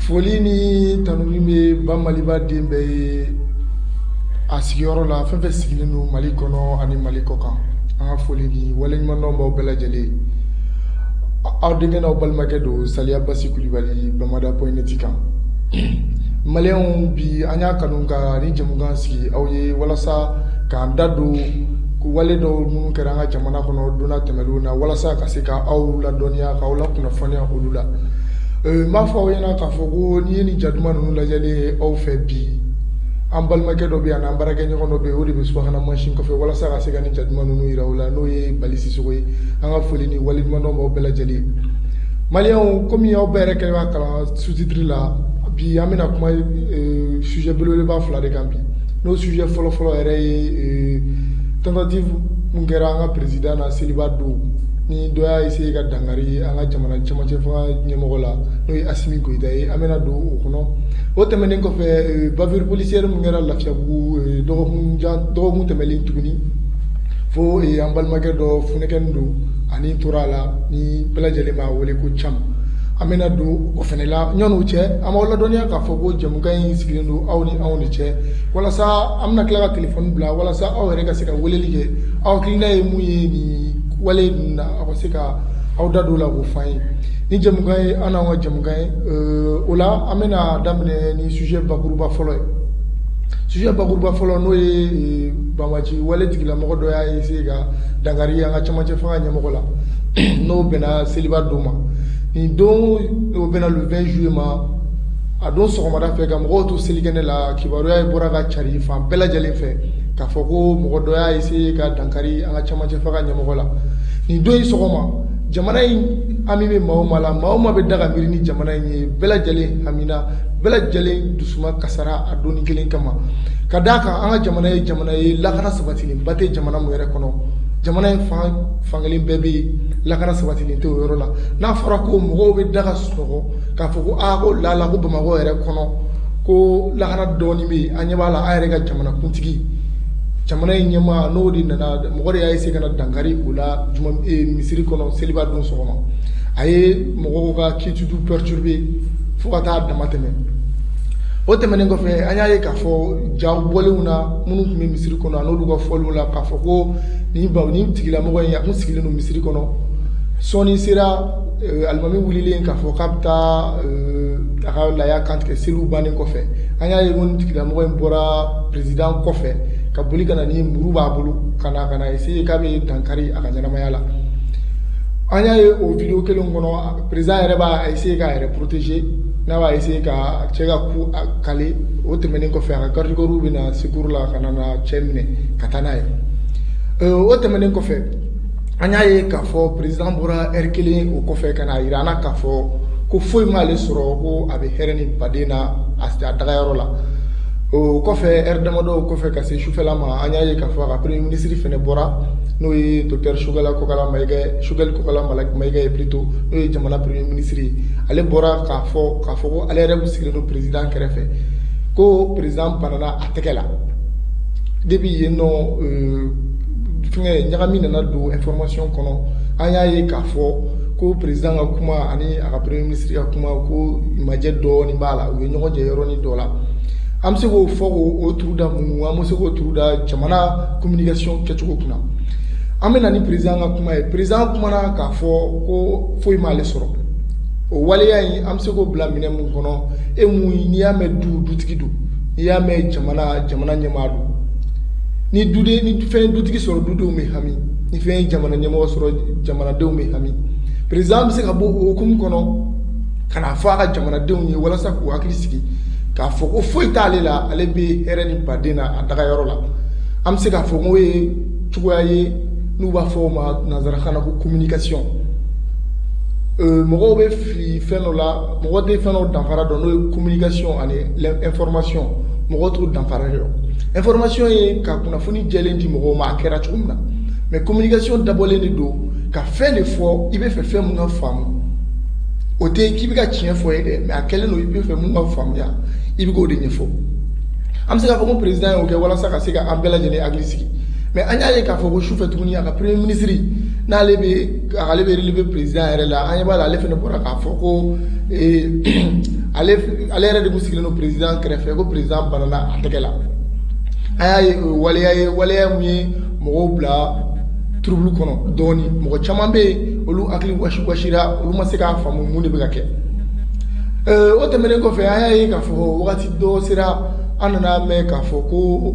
foli ni tanuni bɛ ba maliba den bɛɛ ye a sigiyɔrɔ la fɛn fɛn sigilen don mali kɔnɔ ani mali kɔkan an ka foli ni waleɲumandɔn b'aw bɛɛ lajɛlen aw denkɛ n'aw balimakɛ don saliya basi kulubali bamada pɔyinɛti kan maliyɛnw bi an y'a kanu ka nin jɛmukan sigi aw ye walasa k'an da don wale dɔw minnu kɛra an ka jamana kɔnɔ donna tɛmɛnenw na walasa ka se ka aw ladɔnniya k'aw lakunnafoniya olu la Euh, n b'a fɔ aw ɲɛna k'a fɔ ko n'i ye nin ja duman ninnu lajɛlen ye aw fɛ bi an balimakɛ dɔ bɛ yan n'an baarakɛɲɔgɔn dɔ bɛ yen o de bɛ subahana mansin kɔfɛ walasa ka se ka nin ja duman ninnu jira aw la n'o ye bali sisoko ye an ka foli ni waleɲumandɔn b'aw bɛɛ lajɛlen maliyɛnw komi aw bɛɛ yɛrɛ kɛlen b'a kalan sous-titre la bi an bɛna kuma euh, sujet belebeleba fila de kan bi n'o sujet fɔlɔfɔlɔ yɛrɛ ye euh, tentative mun kɛra an ka président na seliba don Ni dɔ y'a essayer ka dankari an ka jamana cɛmancɛ fanga ɲɛmɔgɔ la n'o ye Asimi Goyita ye, an bɛna don o kɔnɔ, o tɛmɛnen kɔfɛ bavure policière min kɛra Lafiyabugu dɔgɔkun tɛmɛnen tuguni fo an balimakɛ dɔ funɛkɛnin don a ni tora a la ni bɛɛ lajɛlen b'a wele ko Cam, an bɛna don o fana la ɲɔni o cɛ an b'aw ladɔnniya k'a fɔ ko jɛmukan in sigilen don aw ni anw de cɛ walasa an bɛna tila ka telefɔni bila walasa aw yɛrɛ ka se ka weleli kɛ aw hakilina ye min ye nin wale ninnu na aw ka se ka aw da don o la k'o f'an ye nin jɛmu ye an n'aw ka jɛmu ye o la an bɛna daminɛ ni sujet bakuruba fɔlɔ ye sujet bakuruba fɔlɔ n'o ye banbaanci wale tigilamɔgɔ dɔ y'a essayer ka dankari an ka cɛmancɛ fanga ɲɛmɔgɔ la n'o bɛnna seliba don ma nin don o bɛnna le 20 juillet ma a don sɔgɔmada fɛ ka mɔgɔw to selikɛnɛ la kibaruya in bɔra ka cari fan bɛɛ lajɛlen fɛ k'a fɔ ko mɔgɔ dɔ y'a essayer ka dankari an ka cɛmancɛ fanga ɲɛmɔgɔ la nin don in sɔgɔma jamana in hami bɛ maa o maa la maa o maa bɛ da ka miiri ni jamana in ye bɛɛ lajɛlen hamina bɛɛ lajɛlen dusuma kasara a donni kelen kama ka d'a kan an ka jamana ye jamana ye lakana sabatilenba tɛ jamana min yɛrɛ kɔnɔ jamana in fan fankelen bɛɛ bɛ yen lakana sabatilen tɛ o yɔrɔ la n'a fɔra ko mɔgɔw bɛ da ka sunɔgɔ k'a fɔ ko aa ko lala ko bamakɔ yɛrɛ kɔnɔ ko lakana dɔɔni bɛ yen an ɲɛ b'a la an yɛrɛ ka jamanakuntigi jamana in ɲɛmaa n'o de nana mɔgɔ de y'a essayer ka na dankari o la juma eh, misiri kɔnɔ seliba don sɔgɔma a ye mɔgɔw ka quiétude perturber fo ka taa dama tɛmɛ o tɛmɛnen kɔfɛ an y'a ye k'a fɔ jaw bɔlenw na minnu tun bɛ misiri kɔnɔ an'olu ka fɔliw la k'a fɔ ko nin baw nin tigilamɔgɔ in a tun sigilen don misiri kɔnɔ sɔɔni sera Alimami wulila k'a fɔ k'a bɛ taa a ka laya kantigɛ seliw bannen kɔfɛ an y'a ye nin tigilamɔgɔ in bɔra président kɔfɛ ka boli ka na ni muru b'a bolo ka na essayer k'a bɛ dankari a ka ɲɛnamaya la an y'a ye o vidéo kelen kɔnɔ président yɛrɛ b'a essayer k'a yɛrɛ protéger n'a b'a essayer ka cɛ ka coup caler o tɛmɛnen kɔfɛ a ka garde corpsw bɛ na secours la ka na cɛ minɛ ka taa n'a ye o tɛmɛnen kɔfɛ an y'a ye k'a fɔ président bɔra heure kelen o kɔfɛ ka na jira an na k'a fɔ ko foyi m'ale sɔrɔ ko a bɛ hɛrɛ ni baden na a a dagayɔrɔ la o kɔfɛ heure damadɔ kɔfɛ ka se sufɛla ma an y'a ye k'a fɔ a ka premier ministre fana bɔra n'o ye docteur Choguel Kokala Ma Choguel Kokala Maïga ye plutôt n'o ye jamana premier ministre ye ale bɔra k'a fɔ k'a fɔ ko ale yɛrɛ de sigilen don président kɛrɛfɛ ko président banana a tɛgɛ la depuis yen nɔ fɛngɛ ɲagami nana don information kɔnɔ an y'a ye k'a fɔ ko président ka kuma ani a ka premier ministre ka kuma ko majɛ dɔɔnin b'a la u ye ɲɔgɔn jɛ yɔrɔnin dɔ la an bɛ se k'o fɔ k'o turu da mun an bɛ se k'o turu da jamana communication kɛcogo kunna an bɛ na ni président ka kuma ye président kumana k'a fɔ ko foyi m'ale sɔrɔ o waleya in an bɛ se k'o bila minɛn mun kɔnɔ e mun n'i y'a mɛn du dutigi don i y'a mɛn jamana jamana ɲɛmaa don ni duden ni fɛn dutigi sɔrɔ dudenw bɛ hami ni fɛn jamana ɲɛmɔgɔ sɔrɔ jamanadenw bɛ hami président bɛ se ka bɔ o hukumu kɔnɔ ka na fɔ a ka jamanadenw ye walasa k'u hakili sigi k'a fɔ ko foyi t'ale la ale bɛ hɛrɛ ni baden na a dagayɔrɔ la an bɛ se k'a fɔ k'o ye cogoya ye n'u b'a fɔ o ma nanzarakan na ko communication mɔgɔw bɛ fili fɛn dɔ la mɔgɔ tɛ fɛn dɔw danfara dɔn n'o ye communication ani information mɔgɔ t'u danfara dɔn information ye ka kunnafoni jɛlen di mɔgɔw ma a kɛra cogo min na mais communication dabɔlen de don ka fɛn de fɔ i bɛ fɛ fɛn mun ka faamu o tɛ k'i bɛ ka tiɲɛ fɔ ye dɛ mais a kɛlen don i bɛ fɛ mun ka faamuya i bɛ k'o de ɲɛfɔ an bɛ se k'a fɔ ko président y'o kɛ walasa ka se ka an bɛɛ lajɛlen hakili sigi mais an y'a ye k'a fɔ ko sufɛ tuguni a ka premier ministre n'ale bɛ ale bɛ relever président yɛrɛ la an ɲɛ b'a la ale fana bɔra k'a fɔ ko ale yɛrɛ de kun sigilen don président kɛrɛfɛ ko président banana a tɛgɛ la an y'a ye waleya ye waleya min ye mɔgɔw bila trouble kɔnɔ dɔɔnin mɔgɔ caman bɛ yen olu hakili wasiwasira olu ma se k'a faamu mun de bɛ ka kɛ o tɛmɛnen kɔfɛ an y'a ye k'a fɔ wagati dɔ sera an nana mɛn k'a fɔ ko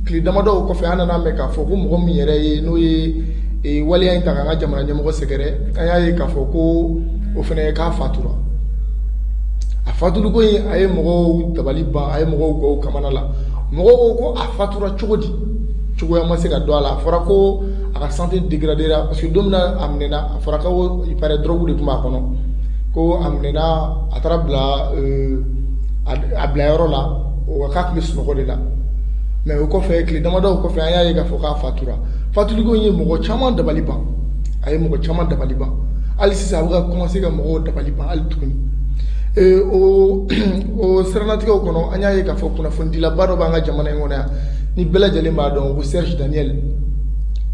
tile damadɔ kɔfɛ an nana mɛn k'a fɔ ko mɔgɔ min yɛrɛ ye n'o ye ee waleya in ta k'an ka jamana ɲɛmɔgɔ sɛgɛrɛ an y'a ye k'a fɔ ko o fana ye k'a fatura a fatuliko in a ye mɔgɔw dabali ban a ye mɔgɔw gɔw kamana la mɔgɔw ko ko a fatura cogo di cogoya ma se ka don a la a fɔra ko a ka santé dégradera parce que don min a minɛna a fɔra ko il paraît drogue de tun b'a kɔnɔ ko a minɛna a taara bila euh, a bila yɔrɔ la o k'a tun bɛ sunɔgɔ de la mais o kɔfɛ tile damadɔw kɔfɛ an y'a ye k'a fɔ k'a fatura fatuliko ye mɔgɔ caman dabali ban a ye mɔgɔ caman dabali ban hali sisan a bɛ ka commencer ka mɔgɔw dabali ban hali tuguni o o siranatigɛw kɔnɔ an y'a ye k'a fɔ kunnafonidilaba dɔ b'an ka jamana in kɔnɔ yan ni bɛɛ lajɛlen b'a dɔn ko Serge Daniel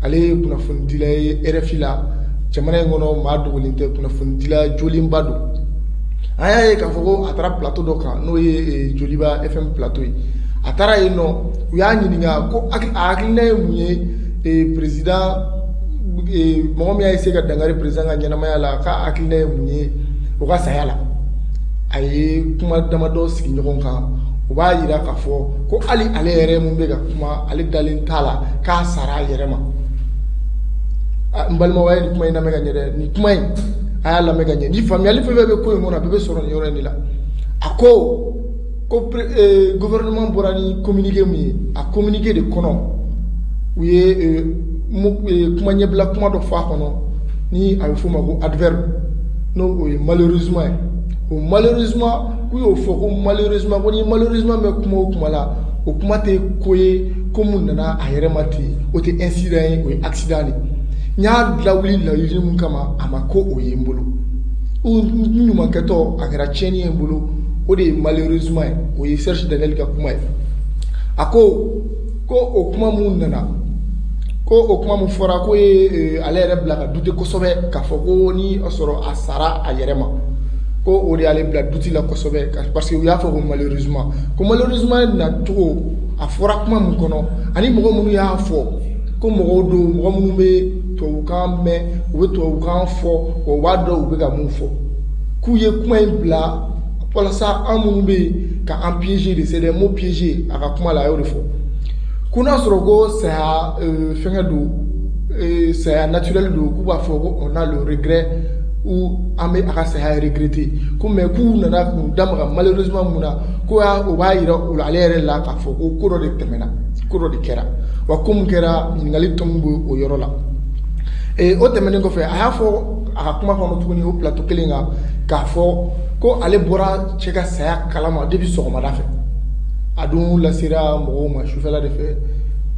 ale ye kunnafonidila ye RFI la jamana in kɔnɔ maa dogolen tɛ kunnafonidila jolenba don an y'a ye k'a fɔ ko a taara plateau dɔ kan n'o ye Joliba FM plateau ye a taara yen nɔ u y'a ɲininka ko a hakilina ye mun ye président mɔgɔ min y'a essayé ka dankari président ka ɲɛnamaya la k'a hakilina ye mun ye o ka saya la a ye kuma damadɔ sigi ɲɔgɔn kan u b'a jira k'a fɔ ko hali ale yɛrɛ min bɛ ka kuma ale dalen t'a la k'a sara a yɛrɛ ma n balimaw a ye nin kuma in lamɛn ka ɲɛ dɛ nin kuma in a y'a lamɛn ka ɲɛ ni faamuyali fɛn fɛn bɛ ko in kɔnɔ a bɛɛ bɛ sɔrɔ nin yɔrɔ in de la a ko ko eh, gouvernement bɔra ni communiqué min ye a communiqué de kɔnɔ u ye eh, eh, kuma ɲɛbila kuma dɔ fɔ a kɔnɔ ni a bɛ f'o ma ko adverbe n'o ye malheureusement ye o malheureusement k'u y'o fɔ ko malheureusement ko ni malheureusement bɛ kuma o kuma la o kuma tɛ ko ye ko mun nana a yɛrɛ ma ten o tɛ incident ye o ye accident de n y'a lawuli laɲini mun kama a ma kɛ o ye n bolo n ɲumankɛtɔ a kɛra tiɲɛni ye n bolo o de ye malheureusement ye o ye Serge Daniel ka kuma ye a ko ko o kuma min nana ko o kuma min fɔra k'o ye eh, ale yɛrɛ bila ka douter kosɛbɛ k'a fɔ ko ni a sɔrɔ a sara a yɛrɛ ma ko o de y'ale bila doute la kosɛbɛ parce que u y'a fɔ ko malheureusement ko malheureusement nacogo a fɔra kuma min kɔnɔ ani mɔgɔ minnu y'a fɔ ko mɔgɔw don mɔgɔ minnu bɛ tubabukan mɛn u bɛ tubabukan fɔ wa u b'a dɔn u bɛ ka mun fɔ k'u ye kuma in bila walasa an minnu bɛ yen ka an piéger de c'est des mots piégés a ka kuma la a y'o de fɔ ko n'a sɔrɔ ko saya euh, fɛngɛ don euh, saya naturel don k'u b'a fɔ ko on a le regret ou an bɛ a ka saya regretter ko mais k'u nana k'u da maga malheureusement mun na ko y'a o b'a yira o la ale yɛrɛ la k'a fɔ ko ko dɔ de tɛmɛna ko dɔ de kɛra wa ko mun kɛra ɲininkali tomi bɛ o yɔrɔ la ee o tɛmɛnen kɔfɛ a y'a fɔ a ka kuma kɔnɔ tuguni o plateau kelen kan k'a fɔ ko ale bɔra cɛ ka saya kalama depuis sɔgɔmada fɛ a dun lasera mɔgɔw ma sufɛla de fɛ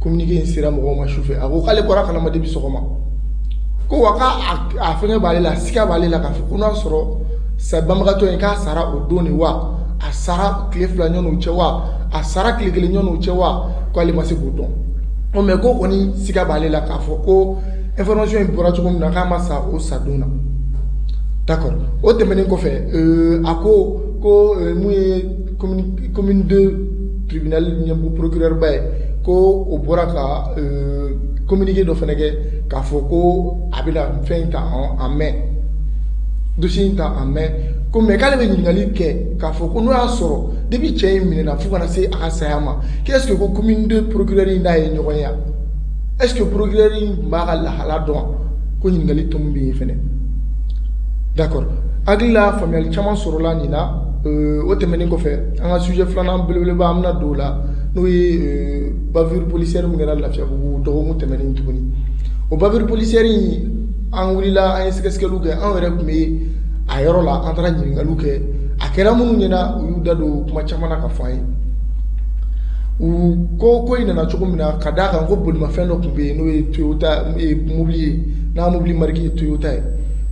communiqué in sera mɔgɔw ma sufɛ a ko k'ale bɔra kalama depuis sɔgɔma ko wa k'a a fɛngɛ b'ale la siga b'ale la k'a fɔ ko n'a sɔrɔ sa banbagatɔ in k'a sara o don de wa a sara tile fila ɲɔgɔn cɛ wa a sara tile kelen ɲɔgɔn cɛ wa k'ale ma se k'o dɔn ko mais ko kɔni siga b'ale la k'a fɔ ko information in bɔra cogo min na k'a ma sa o sadon na d'accord o tɛmɛnen kɔfɛ euh, a ko ko euh, mun ye commune commune deux tribunal ɲɛmɔgɔ procureur ba ye ko o bɔra ka euh, communiqué dɔ fana kɛ k'a fɔ ko a bɛna fɛn in ta en main dossier in ta en main ko mais k'ale bɛ ɲininkali kɛ k'a fɔ ko n'o y'a sɔrɔ depuis cɛ in minɛna fo ka na se a ka saya ma k'est-ce que ko commune deux procureur in n'a ye ɲɔgɔn ye wa. est-ce que procureur tun b'a ka lahala dɔn ko ɲininkali tɔ min bɛ yen fɛnɛ d'accord hakili la faamuyali caman sɔrɔla nin na euh, o tɛmɛnen kɔfɛ an ka sujet filanan belebeleba an bɛna don o la n'o ye euh, bavure policière min kɛra lafiyabugu dɔgɔkun tɛmɛnen tuguni o bavure policière in an wulila an ye sɛgɛsɛgɛliw kɛ anw yɛrɛ tun bɛ a yɔrɔ la an taara ɲininkaliw kɛ a kɛra minnu ɲɛna u y'u da don kuma caman na k'a fɔ an ye u ko ko in nana cogo min na ka d'a kan ko bolimafɛn dɔ tun bɛ yen n'o ye toyota mobili ye n'a mobili marque ye toyota ye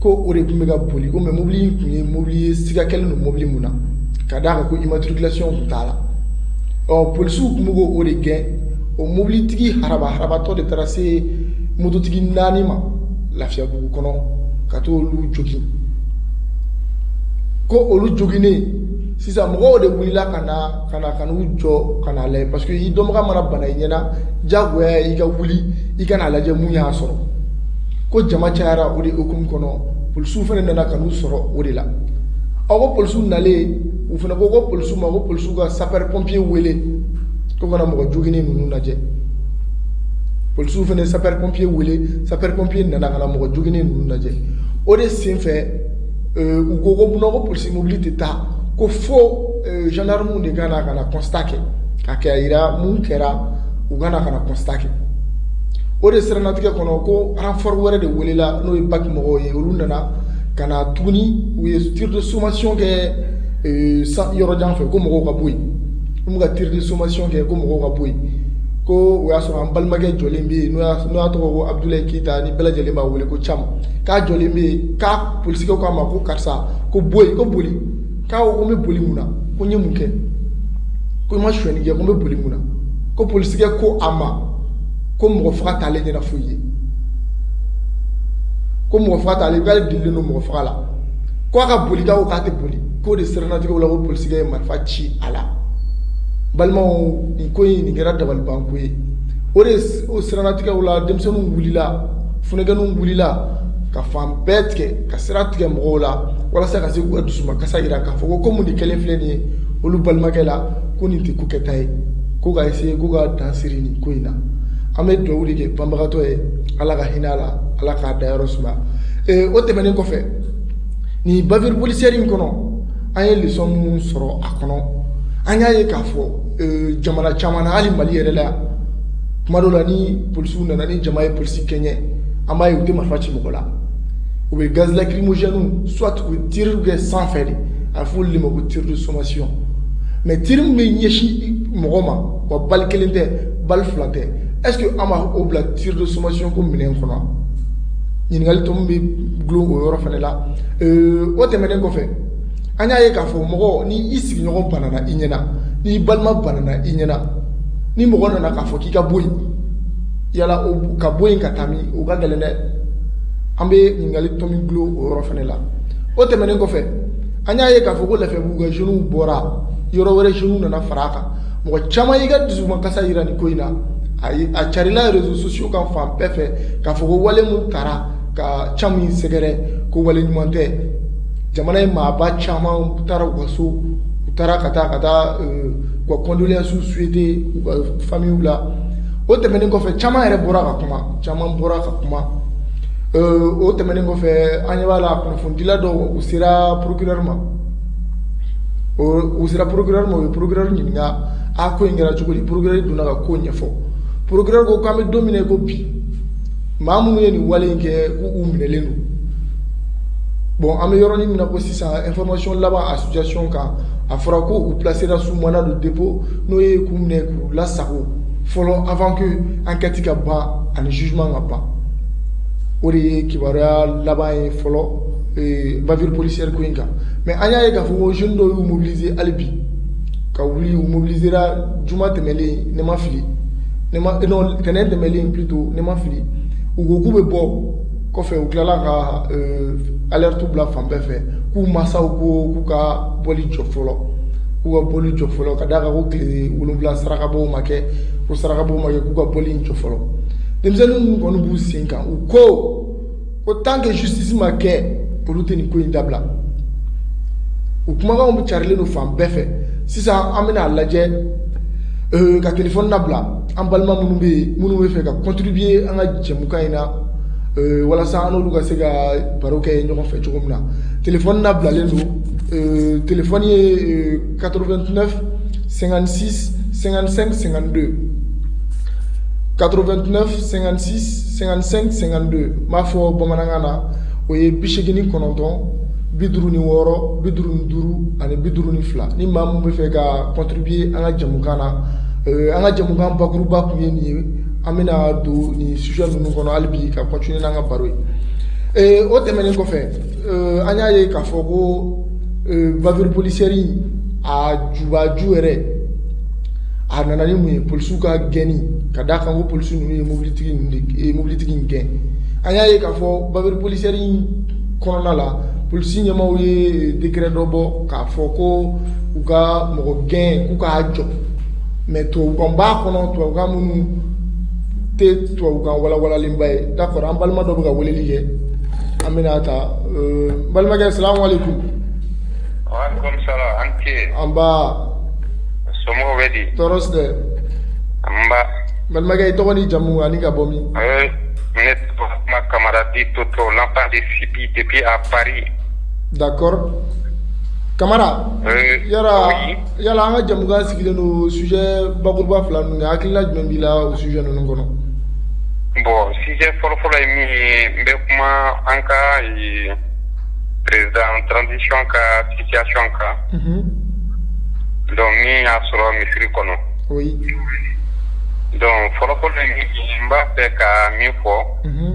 ko o de tun bɛ ka boli ko mais mobili in tun ye mobili ye siga kɛlen don mobili min na ka d'a kan ko immatriculation tun t'a la ɔ polisiw tun bɛ k'o de gɛn o mobilitigi haraba harabatɔ de taara se mototigi naani ma lafiyabugu kɔnɔ ka t'olu jogin ko olu joginnen sisan mɔgɔw de wulila ka na ka na ka n'u jɔ ka n'a lajɛ parce que i dɔnbaga mana bana i ɲɛna diyagoya i ka wuli i ka n'a lajɛ mun y'a sɔrɔ ko jama cayara o de hukumu kɔnɔ polisiw fana nana ka n'u sɔrɔ o de la aw ko polisiw nalen u fana ko ko polisiw ma ko polisiw ka sapeur pompier wele ko ka na mɔgɔ joginnen ninnu lajɛ polisiw fana sapeur pompier wele sapeur pompier nana ka na mɔgɔ joginnen ninnu lajɛ o de senfɛ Euh, u ko ko munna ko polisi mobili tɛ taa ko fo euh, gendarmew de ka na ka na constat kɛ ka kɛ a yira mun kɛra u ka na ka na constat kɛ o de siranatigɛ kɔnɔ ko renfort wɛrɛ de welela n'o ye BAC mɔgɔw ye olu nana ka na tuguni u ye tir de sommation kɛ euh, yɔrɔ jan fɛ ko mɔgɔw ka bɔ yen n'u ka tir de sommation kɛ ko mɔgɔw ka bɔ yen ko o y'a sɔrɔ an balimakɛ jɔlen bɛ yen n'o y'a tɔgɔ ko abudulayi keyita ni bɛɛ lajɛlen b'a wele ko cam k'a jɔlen bɛ yen k'a polisikɛ k'a ma ko karisa ko bɔ yen ko boli k'a ko ko n bɛ boli mun na ko n ye mun kɛ ko n ma sonyɛni kɛ ko n bɛ boli mun na ko polisikɛ ko a ma ko mɔgɔ faga t'ale ɲɛna foyi ye ko mɔgɔ faga t'ale k'ale delilen don mɔgɔ faga la ko a ka boli k'a ko k'a tɛ boli k'o de siratigɛ la ko polisikɛ ye marifa ci a la balimaw nin ko in nin kɛra dabalibanko ye o de o siratigɛ la denmisɛnninw wulila Funakɛninw wulila ka fan bɛɛ tigɛ ka sira tigɛ mɔgɔw la walasa ka se k'u ka dusumakasa jira k'a fɔ ko komi nin kɛlen filɛ nin ye olu balimakɛ la ko nin tɛ ko kɛta ye ko ka essayer ko ka dan sigi nin ko in na an bɛ dugawu de kɛ banbagatɔ ye Ala ka hinɛ a la Ala k'a dayɔrɔ suma ee o tɛmɛnen kɔfɛ nin bavure policière in kɔnɔ an ye leçon minnu sɔrɔ a kɔnɔ an y'a ye k'a fɔ jamana caman na hali mali yɛrɛ la yan tuma dɔw la ni polisiw nana ni jama ye polisi kɛɲɛ an b'a ye u tɛ marifa ci mɔgɔ la u bɛ gaz lacrymogène soit u bɛ tirs kɛ sanfɛ de a bɛ fɔ olu de ma ko tir de sommation mais tir min bɛ ɲɛsin mɔgɔ ma wa balle kelen tɛ balle fila tɛ est ce que an b'a o bila tir de sommation ko minɛn kɔnɔ ɲininkali tomi bɛ dulon o yɔrɔ fana la o tɛmɛnen kɔfɛ an y'a ye k'a fɔ mɔgɔ ni i sigiɲɔgɔn banana i ɲɛna n'i balima banana i ɲɛna ni mɔgɔ nana k'a fɔ k'i ka bɔ yen yala ka bɔ yen ka taa min o ka gɛlɛn dɛ an bɛ ɲininkali tomi dulon o yɔrɔ fana la o tɛmɛnen kɔfɛ an y'a ye k'a fɔ ko lafiyabugu ka jeunes bɔra yɔrɔ wɛrɛ jeunes nana fara a kan mɔgɔ caman y'i ka dusumakasa jira nin ko in na a carila réseaux sociaux kan fan bɛɛ fɛ k'a fɔ ko wale min taara ka Cam in sɛgɛrɛ ko wale ɲuman tɛ jamana ɲɛmaaba caman taara u ka so u taara ka taa ka taa ka condoléances souhaiter famille la o tɛmɛnen kɔfɛ caman yɛrɛ bɔra ka kuma caman bɔra ka kuma o tɛmɛnen kɔfɛ an ɲɛ b'a la kunnafonidila dɔw sera procureur ma u sera procureur ma u ye procureur ɲininka a ko in kɛra cogo di procureur donna ka ko ɲɛfɔ procureur ko k'an bɛ don min ko bi maa minnu ye nin wale in kɛ k'u minɛlen don bon an bɛ yɔrɔnin min na ko sisan information laban a situation kan a fɔra ko u placera sous mandat de dépôt n'o ye k'u minɛ k'u lasago fɔlɔ avant que enquête ka ban ani jugement ka ban o de ye kibaruya laban ye fɔlɔ bavure policière ko in kan mais an y'a ye k'a fɔ ko jeune dɔw y'u mobiliser hali bi ka wuli u mobilisera juma tɛmɛlen ni n ma fili ne ma eh, non tɛnɛn tɛmɛlen plutôt ni n ma fili u ko k'u bɛ bɔ kɔfɛ u tilala ka euh, alerte bila fan bɛɛ fɛ k'u masaw ko k'u ka bɔli jɔ fɔlɔ k'u ka bɔli jɔ fɔlɔ ka d'a kan ko tile wolonwula sarakabɔw ma kɛ ko sarakabɔw ma kɛ k'u ka bɔli in jɔ fɔlɔ denmisɛnnin ninnu kɔni b'u sen kan u ko ko tant que justice ma kɛ olu tɛ nin ko in dabila u kumakanw bɛ carilen don fan bɛɛ fɛ sisan an bɛna a lajɛ euh, ka telefɔni labila an balima minnu bɛ yen minnu bɛ fɛ ka contribuer an ka jɛmukan in na euh, walasa an n'olu ka se ka baro kɛ ɲɔgɔn fɛ cogo min na telefɔni labilalen don euh, telefɔni ye 89 56 55 52 89 56 55 52 n b'a fɔ bamanankan na o ye bi seegin ni kɔnɔntɔn bi duuru ni wɔɔrɔ bi duuru ni duuru ani bi duuru ni fila ni maa min bɛ fɛ ka contribuer an ka jɛmukan na euh, an ka jɛmukan bakuruba tun ye nin ye an bɛna don nin sujet ninnu kɔnɔ hali bi ka continuer n'an ka baro ye euh, o tɛmɛnen kɔfɛ an y'a ye k'a fɔ ko bavure policière a jubaju yɛrɛ a nana ni mun ye polisiw ka gɛnni ka d'a kan ko polisi ninnu ye mobilitigi mobilitigi in gɛn an y'a ye k'a fɔ bavure policière kɔnɔna la polisi ɲɛmaaw ye décret dɔ bɔ k'a fɔ ko u ka mɔgɔ gɛn k'u k'a jɔ mais tubabukan b'a kɔnɔ tubabukan minnu tɛ tubabukan walawalalenba ye d'accord an balima dɔ bɛ ka weleli kɛ an bɛna ta euh, n balimakɛ salamu aleykum. waaleykum salaam an ce. nba. somɔgɔw bɛ di. tɔɔrɔ si tɛ. nba. n balimakɛ i tɔgɔ ni jamu ani ka bɔ min. Euh, ne tɔgɔ ma kamara dit toto l'enfant de sibi depuis à paris. d'accord kamara. Euh, yɔrɔ. yala an ka jamukan sigilen don sujet bakuruba fila ninnu kan hakilina jumɛn b'i la o sujet ninnu kɔnɔ bon sujet fɔlɔfɔlɔ ye min ye n bɛ kuma an ka eh, président transition ka situation kan mhm. donc min y'a sɔrɔ misiri kɔnɔ oui donc fɔlɔfɔlɔ ye min ye n b'a fɛ ka min fɔ mhm.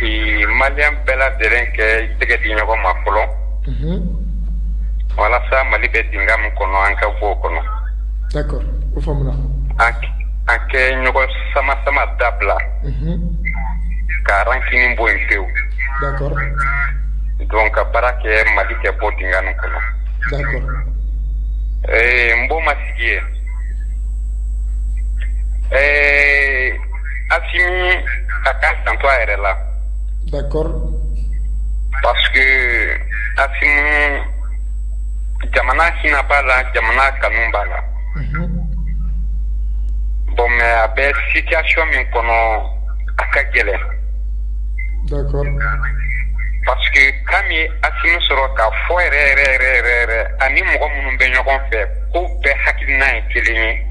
eh, maliyɛn bɛɛ lajɛlen k'i tɛgɛ di ɲɔgɔn ma fɔlɔ walasa mali bɛ dingɛ min kɔnɔ an ka bɔ o kɔnɔ d'accord o faamuna an ka ɲɔgɔn sama sama dabila ka rancune bɔ yen pewu donc ka baara kɛ mali ka bɔ dingɛ nin kɔnɔ ɛɛ bon monsieur ɛɛ asimi a ka janto a yɛrɛ la d'accord parce que asimi jamana hinɛ b'a la jamana kanu b'a la mhm. bon mais a bɛ situation min kɔnɔ a ka gɛlɛn d'accord parce que kan min ye asimi sɔrɔ k'a fɔ yɛrɛ yɛrɛ yɛrɛ yɛrɛ ani mɔgɔ minnu bɛ ɲɔgɔn fɛ k'u bɛɛ hakilina ye kelen ye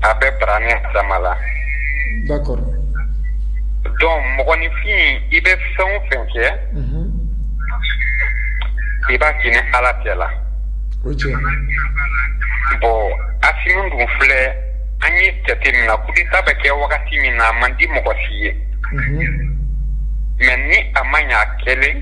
a bɛ bara ni adama la donc mɔgɔninfin i bɛ fɛn o fɛn kɛ i b'a kɛ ni ala tɛ la bon asimi dun filɛ an ye jate min na coup d'état bɛ kɛ wagati min na a man di mɔgɔ si ye mais ni a ma ɲɛ a kelen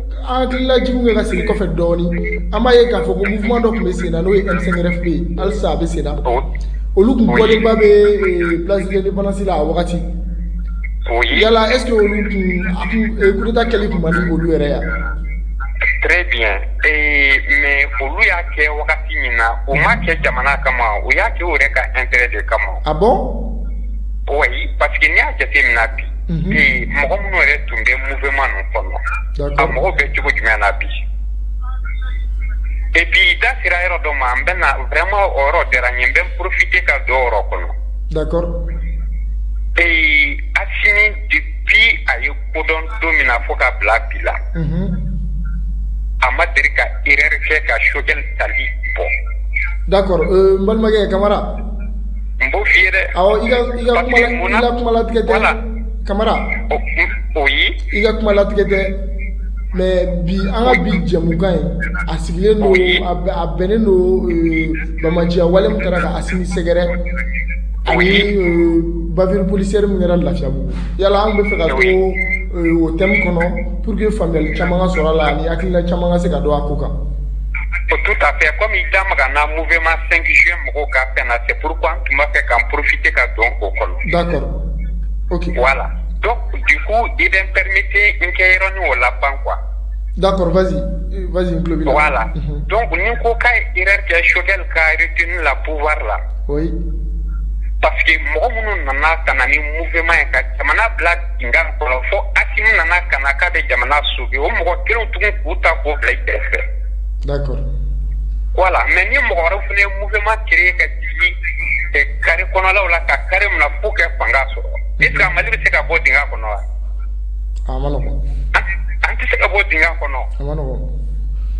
an hakililajigin kɛ ka segin kɔfɛ dɔɔni an b'a ye k'a fɔ ko mouvement dɔ tun bɛ sen na n'o ye M5RFP ye halisa a bɛ sen na olu tun bɔlenba bɛ eh, place de l'indépendance la a wagati yala est ce que olu tun a tun eh, coup d'état kɛli tun man di olu yɛrɛ ye. très bien eh, mais olu y'a kɛ wagati min na u ma kɛ jamana kama u y'a kɛ u yɛrɛ ka intérêt de kama ah bon oui parce que n'i y'a jateminɛ bi bi mɔgɔ minnu yɛrɛ tun bɛ mouvement ninnu kɔnɔ a mɔgɔw bɛ cogo jumɛn na bi et puis da sera yɔrɔ dɔ ma n bɛna vraiment o yɔrɔ diyara n ye n bɛ profiter ka don o yɔrɔ kɔnɔ ee asimi depuis a ye ko dɔn don min na fo ka bila bi la a ma deli ka erreur kɛ ka choguel tali bɔ d'accord balimakɛ kamara n b'o f'i ye dɛ, awɔ i ka i ka kuma la i ka kuma latigɛ tɛ, voilà, Kamara, oui, i ka kuma latigɛ tɛ mais bi an ka bi jɛmukan in a sigilen don a bɛnnen don euh, bamaciya wale min kɛra ka Asimi sɛgɛrɛ ani euh, bavure policière min kɛra Lafiyabugu yala an bɛ fɛ ka to euh, o thème kɔnɔ pour que faamuyali caman ka sɔrɔ a la ani hakilina caman ka se ka don a ko kan O tu ta fɛ ko min da makan n' muma senkisiya mɔgɔw ka fɛn na se puru an tun b'a fɛ ka porofinti ka dɔn ko kɔnɔ wala don dusu i bɛ pmete n kɛ yɔrɔ ni o la ban qu da la don ni ko ka yɛrɛ kɛ sokɛ kate la buwa la pa mɔgɔ minnu nana ka ni muma ye ka jamana bila nka kɔnɔ fo asimi nana ka na k'a bɛ jamana sauver o mɔgɔ kelen tugun k'u ta k'u bila i kɛrɛfɛ voilà mais ni mɔgɔ wɛrɛ fana ye mouvement créer ka jigin carré kɔnɔlaw la ka carré minɛ fo kɛ fanga sɔrɔ est ce que mali bɛ se ka bɔ dingɛ kɔnɔ wa an tɛ se ka bɔ dingɛ kɔnɔ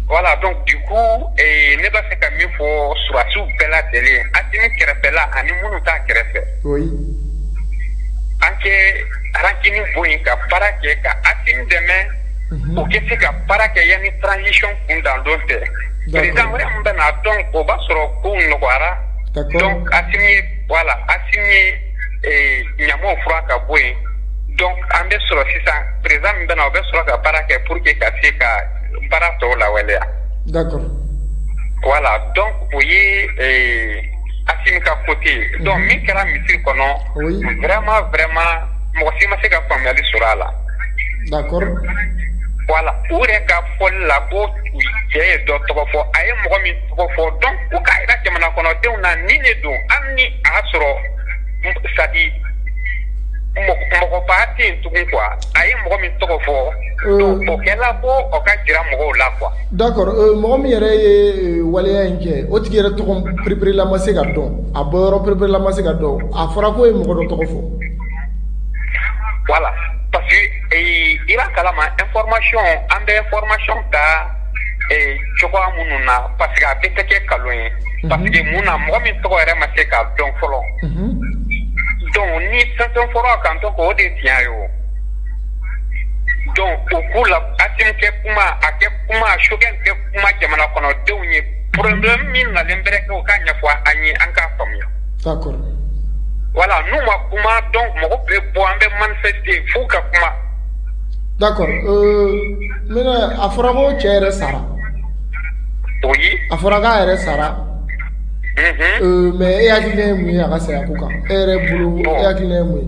voilà donc du coup ne b'a fɛ ka min fɔ sɔrɔdasiw bɛɛ lajɛlen asimi kɛrɛfɛla ani minnu t'a kɛrɛfɛ an kɛ rancune bɔ yen ka baara kɛ ka asimi dɛmɛ u kɛ se ka baara kɛ yanni transition kun dan don tɛ président wɛrɛ min bɛna donc o b'a sɔrɔ kow nɔgɔyara asimi ye voilà asimi ye ɲamanw furan ka bɔ yen donc an bɛ sɔrɔ sisan président min bɛna o bɛ sɔrɔ ka baara kɛ pour que ka se ka baara tɔw lawaleya voilà donc o ye Asimi ka côté donc min kɛra misiri kɔnɔ vraiment vraiment mɔgɔ si ma se ka faamuyali sɔrɔ a la voilà u yɛrɛ ka fɔli la ko cɛ ye dɔ tɔgɔ fɔ a ye mɔgɔ min tɔgɔ fɔ donc u k'a yira jamana kɔnɔdenw na nin de don ani ni a sɔrɔ ça dit mɔgɔba tɛ yen tugun quoi a ye mɔgɔ min tɔgɔ fɔ donc o kɛra ko o ka jira mɔgɔw la qu D'accord mɔgɔ min yɛrɛ ye waleya in kɛ o tigi yɛrɛ tɔgɔ perepere la ma se ka dɔn a bɔyɔrɔ perepere la ma se ka dɔn a fɔra k'o ye mɔgɔ dɔ tɔgɔ fɔ voilà parce que i y'a kalama information an bɛ information ta cogoya minnu na parce que a bɛ taa kɛ nkalon ye parce que mun na mɔgɔ min tɔgɔ yɛrɛ ma se ka dɔn fɔlɔ donc ni fɛn fɔra a kan to o de tiɲɛ ye o donc o ko la Asimu kɛ kuma a kɛ kuma Choguel kɛ kuma jamana kɔnɔ denw ye problème min nalen bɛ kɛ u k'a ɲɛfɔ an ye an k'a faamuya d'accord voilà n'u ma kuma donc mɔgɔ bɛ bɔ an bɛ manifester fo u ka kuma d'accord maintenant a fɔra ko cɛ yɛrɛ sara oui a fɔra k'a yɛrɛ sara mais e hakili mun ye a ka saya ko kan e yɛrɛ bolo e hakili mun ye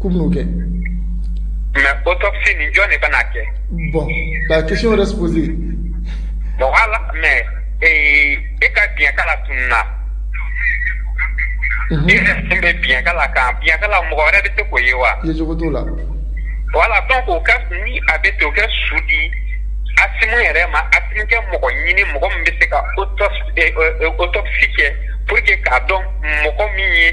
k'u bɛn'o kɛ mais autopsie nin jɔn de bɛna a kɛ bon la question reste posée bon voilà mais ee, e ka biɲɛkala tununna Mhm. i yɛrɛ sen bɛ biɲɛkala kan biɲɛkala mɔgɔ wɛrɛ bɛ se k'o ye wa ye cogo t'o la voilà donc au cas où ni a bɛ ten u kɛ su di Asimu yɛrɛ ma Asimu kɛ mɔgɔ ɲini mɔgɔ min bɛ se ka autopsie eh, eh, autopsie kɛ pour que k'a dɔn mɔgɔ min ye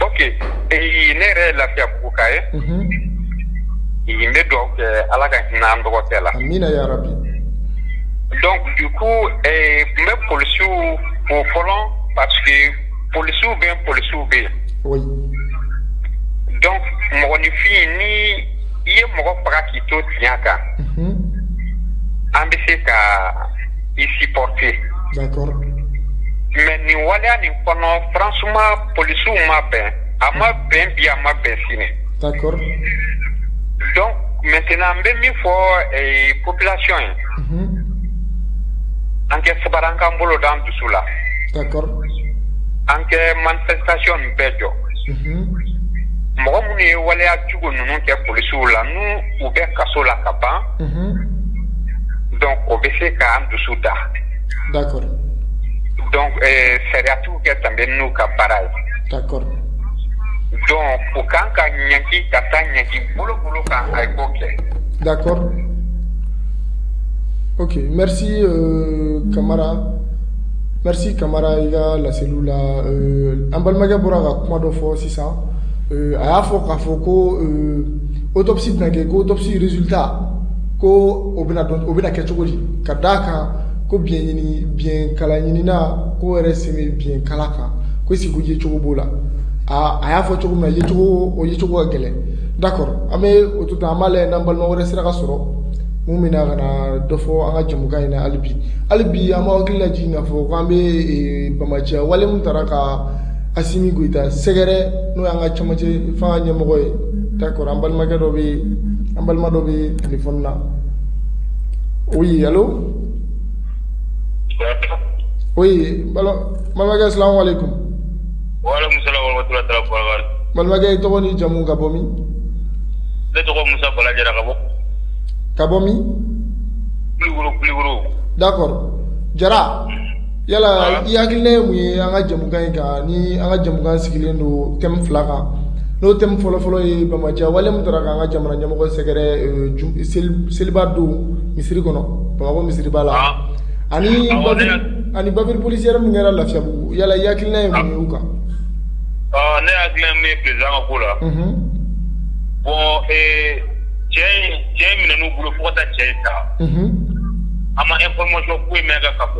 Ok ee ne yɛrɛ ye Lafiyabuguka ye. Unhun. N bɛ duwawu kɛ Ala ka hinɛ an dɔgɔkɛ la. Amina yarabi. Donc du coup ee n bɛ polisiw fo fɔlɔ parce que polisiw bɛ yen polisiw bɛ yen. Oui. Donc mɔgɔninfin ni i ye mɔgɔ faga k'i to tiɲɛ kan. Unhun. An bɛ se ka i supporter mais nin waleya nin kɔnɔ franchement polisiw ma bɛn a ma bɛn bi a ma bɛn sini donc maintenant n bɛ min fɔ population ye an kɛ sabari k'an bolo da an dusu la an kɛ manifestation bɛɛ jɔ mɔgɔ minnu ye waleya jugu ninnu kɛ polisiw la u bɛ kaso la ka ban donc o bɛ se k'an dusu da d'accord donc sariyatigiw kɛ danbe n'u ka baara ye d'accord donc u kan ka ɲangi ka taa ɲangi bolokolo kan a ye ko kɛ d'accord ok merci Kamara merci Kamara i ka laseliw la an balimakɛ bɔra ka kuma dɔ fɔ sisan a y'a fɔ k'a fɔ ko Autopsie bɛna kɛ ko autopsie résultat ko o bɛna kɛ cogo di ka d' a kan ko bikala ɲinina ko yɛrɛ sen bɛ bikala kan ko est-ce que yecogo b'o la aaa a y'a fɔ cogo min yecogo o yecogo ka gɛlɛn d'accord an bɛ o to an b'a lajɛ n'an balima wɛrɛ sera ka sɔrɔ min bɛna na ka na dɔ fɔ an ka jɛmukan in na hali bi hali bi an b'an hakili lajigin k'a fɔ ko an bɛ banbaanciya wale min taara ka Asimi Goyita sɛgɛrɛ n'o y'an ka cɛmancɛ fanga ɲɛmɔgɔ ye d'accord an balimakɛ dɔ bɛ yen, an balima dɔ bɛ téléphone na oui allô oui n balimakɛ salam aleyikomu, waleykomu salam wa ramatulayi taala wa barakatu, n balimakɛ i tɔgɔ n'i jamu ka bɔ min? Ne tɔgɔ ye Musa Bala Jara ka bɔ, ka bɔ min? Kulikoro, Kulikoro d'accord Jara Yala i hakilina ye mun ye an ka jɛmukan in kan ni an ka jɛmukan sigilen don thème fila kan n'o thème fɔlɔfɔlɔ ye banbaanciya wale min taara k'an ka jamana ɲɛmɔgɔ sɛgɛrɛ seliba don misiri kɔnɔ Bamakɔ misiriba la ani ani bavure policière min kɛra Lafiabougou yala i hakilina ye mun ye o kan? Ne hakilina ye min ye président ka ko la bon cɛ in minɛna u bolo fo ka taa cɛ in ta an ma information foyi mɛn a kan.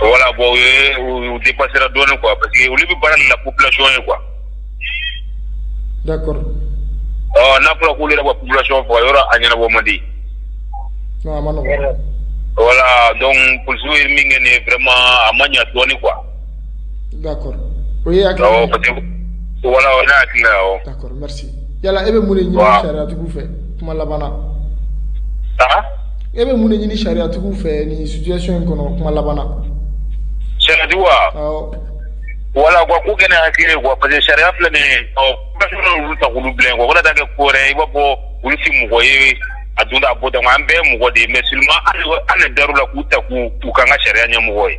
wala bɔ u ye u di basira dɔɔnin kuwa parce que olu bɛ baara la ku bilalasɔn ye kuwa n'a fɔra k'u yɛrɛ ka ku bilalasɔn fɔ yɔrɔ a ɲɛnabɔ man di wala dɔn p ye min kɛ ninma a ma ɲɛ dɔɔnin kuwa d'accord o ye hakili awɔ parce que voilà o n'a hakili la awɔ d'accord merci yala e bɛ mun de ɲini Wa- sariyatigiw fɛ kuma laban na aa e bɛ mun de ɲini sariyatigiw fɛ nin situation in kɔnɔ kuma laban na sariyatigi wa awɔ voilà u ka ko kɛ ni hakili ye quoi parce que sariya filɛ nin ye population y'olu ta k'olu bila yen quoi wala t'a kɛ ko wɛrɛ ye i b'a fɔ olu si mɔgɔ ye a dun t'a bɔ tan an bɛɛ ye mɔgɔ de ye mais seulement an de an de dar'u la k'u ta k'u k'u k'an ka sariya ɲɛmɔgɔ ye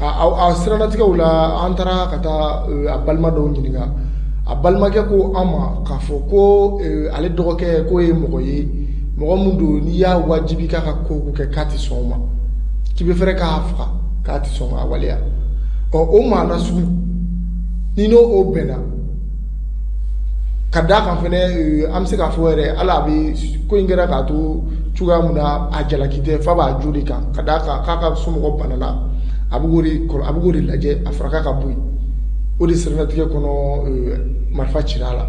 a siranatigɛ la an taara ka taa a balima dɔw ɲininka a balimakɛ ko an ma k'a fɔ ko ale dɔgɔkɛ ko ye mɔgɔ ye mɔgɔ min don n'i y'a wajibi k'a ka ko kɛ k'a tɛ sɔn ma k'i bɛ fɛrɛ k'a faga k'a tɛ sɔn ma waleya ɔ o maa sugu ni n'o o bɛna ka d'a kan fana eh, an bɛ se k'a fɔ yɛrɛ hali bi ko in kɛra k'a to cogoya min na a jalaki tɛ f'a b'a jo de kan ka d'a kan k'a ka somɔgɔ banana a bɛ k'o de kɔrɔ a bɛ k'o de lajɛ a faraka ka bɔ yen o de siranatigɛ kɔnɔ eh, marifa cira a la